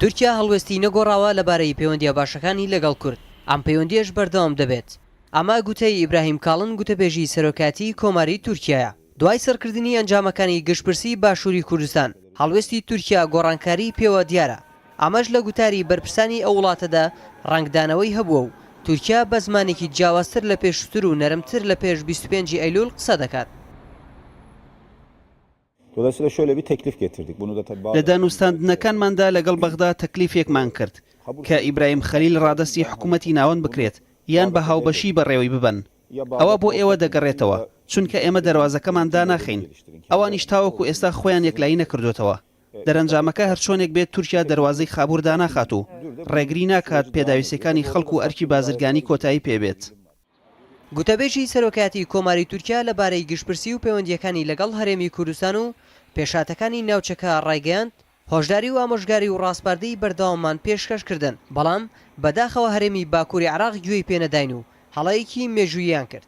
تورکیا هەڵوێستی نەگۆڕاوە لەبارەی پەیوەندییە باشەکانی لەگەڵ کورد، ئەم پەیوەندییەش بەردەوام دەبێت. ئەمە گوتەی ئیبراهیم کاڵن گوتەبێژی سەرۆکایەتیی کۆماری تورکیایە. دوای سڕکردنی ئەنجامەکانی گشتپرسی باشووری کوردستان، هەڵوێستی تورکیا گۆڕانکاریی پێوە دیارە. ئەمەش لە گوتاری بەرپرسانی ئەو وڵاتەدا ڕەنگدانەوەی هەبووە و تورکیا بە زمانێکی جیاوازتر لە پێشووتر و نەرمتر لە پێش بیست و پێنج ی ئەیلوول قسە دەکات. لە دانوستاندنەکانماندا لەگەڵ بەغدا تەکلیفێکمان کرد کە ئیبراهیم خەلیل ڕادەستی حکوومەتی ناوەند بکرێت یان بە هاوبەشی بەڕێوەی ببەن. ئەوە بۆ ئێوە دەگەڕێتەوە، چونکە ئێمە دەروازەکەمان داناخەین، ئەوانیش تاوەکو ئێستا خۆیان یەکلایی نەکردووەتەوە. دەرەنجامەکە هەرچۆنێک بێت تورکیا دەروازەی خابوور داناخات و ڕێگری ناکات پێداویستییەکانی خەڵک و ئەرکی بازرگانی کۆتایی پێ بێت. گوتەبێژی سەرۆکایەتی کۆماری تورکیا لە بارەی گشتپرسی و پەیوەندییەکانی لەگەڵ هەرێمی کوردستان و پێشهاتەکانی ناوچەکە ڕایگەیاند، هۆشداری و ئامۆژگاری و ڕاسپاردەی بەردەواممان پێشکەش کردن، بەڵام بەداخەوە هەرێمی باکووری عێراق گوێی پێ نەداین و هەڵەیەکی مێژووییان کرد.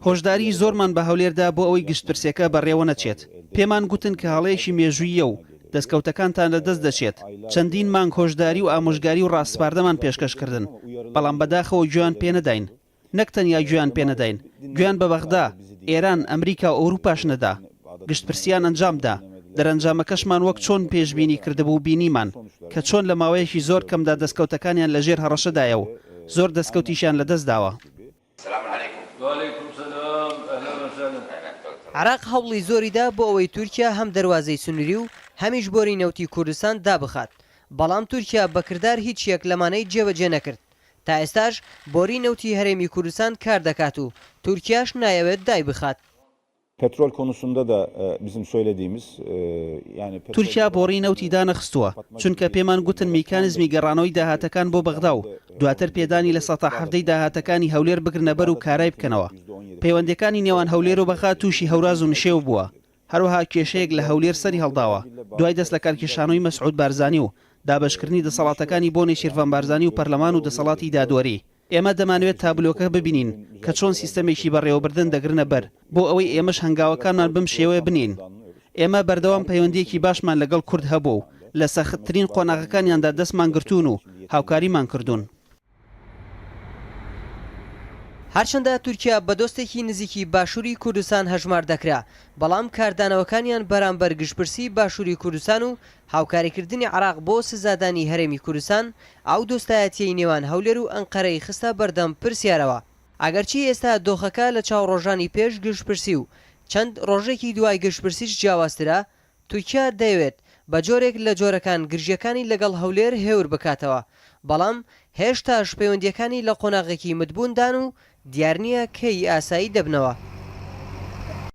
هۆشداریی زۆرمان بە هەولێر دا بۆ ئەوەی گشتپرسییەکە بەڕێوە نەچێت، پێمان گوتن کە هەڵەیەکی مێژووییە و دەستکەوتەکانتان لە دەست دەچێت، چەندین مانگ هۆشداری و ئامۆژگاری و ڕاسپاردەمان پێشکەش کردن، بەڵام بەداخەوە گوێیان پێ نەداین، نەک تەنیا گوێیان پێ نەداین، گوێیان بە بەغدا، ئێران، ئەمریکا و ئەوروپاش نەدا، گشتپرسییان ئەنجام دا، دەرەنجامەکەشمان وەک چۆن پێشبینی کردبوو بینیمان، کە چۆن لە ماوەیەکی زۆر کەمدا دەستکەوتەکانیان لە ژێر هەڕەشەدایە و زۆر دەستکەوتیشیان لە دەست داوە. سلام علیکم. وعلیکم سلام اهلا وسهلا. عێراق هەوڵی زۆری دا بۆ ئەوەی تورکیا هەم دەروازەی سنوری و هەمیش بۆری نەوتی کوردستان دابخات بەڵام تورکیا بە کردار هیچ یەک لەمانەی جێبەجێ نەکرد تا ئێستاش بۆری نەوتی هەرێمی کوردستان کار دەکات و تورکیاش نایەوێت دایبخات. پترۆل کۆنوسندا دە بزم سۆیلە دیمز یانە پترۆل تورکیا بۆڕی نەوتی دانەخستووە، چونکە پێمان گوتن میکانزمی گەڕانەوەی داهاتەکان بۆ بەغدا و دواتر پێدانی لە سەتا حەڤدەی داهاتەکانی هەولێر بگرنە بەر و کارای بکەنەوە. پەیوەندییەکانی نێوان هەولێر و بەغا تووشی هەوراز و نشێو بووە، هەروەها کێشەیەک لە هەولێر سەری هەڵداوە دوای دەست لە کارکێشانەوەی مەسعود بارزانی و دابەشکردنی دەسەڵاتەکانی بۆ نێچیرڤان بارزانی و پەرلەمان و دەسەڵاتی دادوەری. ئێمە دەمانەوێت تابلۆکە ببینین کە چۆن سیستەمێکی بەڕێوەبردن دەگرنە بەر بۆ ئەوەی ئێمەش هەنگاوەکانمان بەم شێوەیە بنێین. ئێمە بەردەوام پەیوەندییەکی باشمان لەگەڵ کورد هەبووە و لە سەختترین قۆناغەکانیاندا دەستمان گرتوون و هاوکاریمان کردوون. هەرچەندە تورکیا بە دۆستێکی نزیکی باشووری کوردستان هەژمار دەکرا، بەڵام کاردانەوەکانیان بەرامبەر گشتپرسی باشووری کوردستان و هاوکاریکردنی عێراق بۆ سزادانی هەرێمی کوردستان، ئەو دۆستایەتییەی نێوان هەولێر و ئەنقەرەی خستە بەردەم پرسیارەوە، ئەگەرچی ئێستا دۆخەکە لە چاو ڕۆژانی پێش گشتپرسی و چەند ڕۆژێکی دوای گشتپرسیش جیاوازترە، تورکیا دەیەوێت بە جۆرێک لە جۆرەکان گرژییەکانی لەگەڵ هەولێر هێور بکاتەوە، بەڵام هێشتاش پەیوەندییەکانی لە قۆناغێکی متبووندان و دیار نییە کەی ئاسایی دەبنەوە.